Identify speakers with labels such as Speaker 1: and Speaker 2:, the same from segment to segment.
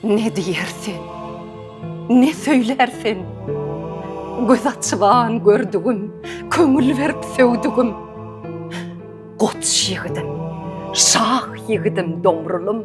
Speaker 1: Ne diýer sen, ne söýlär sen? Göz açyban gördügim, köňül berip söwdügim. Goç ýigidim, şah ýigidim Domrulym.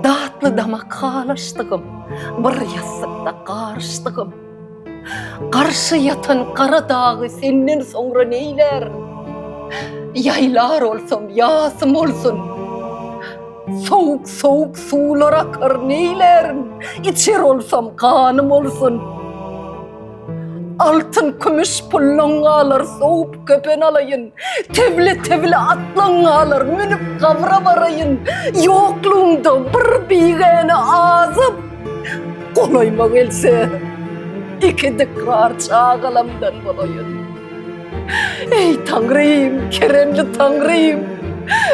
Speaker 1: Datly damak halaşdygym, bir ýassykda garyşdygym. Garşy ýatan gara dagy senden soňra neýlär? Ýaýlar olsam, ýasym olsun. Sowuk-sowuk suwlar akar, neýlärin? Içer olsam, ganym olsun. Altyn-kümüş pullaň galar, sowup köpen alaýyn. Tebli-tebli atlaň galar, münüp gabra baraýyn. Ýoklugyňda bir bigäne azyp. Golaýyma gelse, iki dykgar çagalamdan bolaýyn. Eý, Taňrym, keremli Taňrym!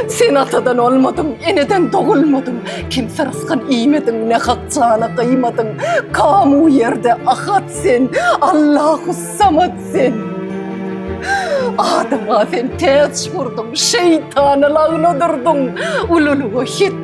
Speaker 1: Sen atadan olmadyň, eneden dogulmadyň, kimse rysgyn iýmediň, nähak jana gyýmadyň, kamu ýerde Ahat sen, Allahussamat sen. Adama sen täç gurduň, şeýtana lagnadyrdyn, ululyga hetdi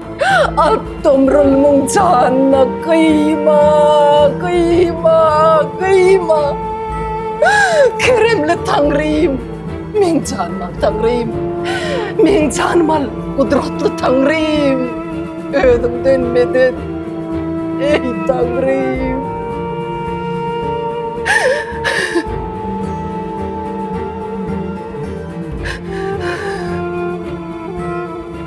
Speaker 1: Alp tomrulmyň janyna gyýma, gyýma, gyýma. Keremli Taňrym, meň janymy al, Taňrym. Meň janymy al, gudratly Taňrym. Özüňden medet, eý Taňrym.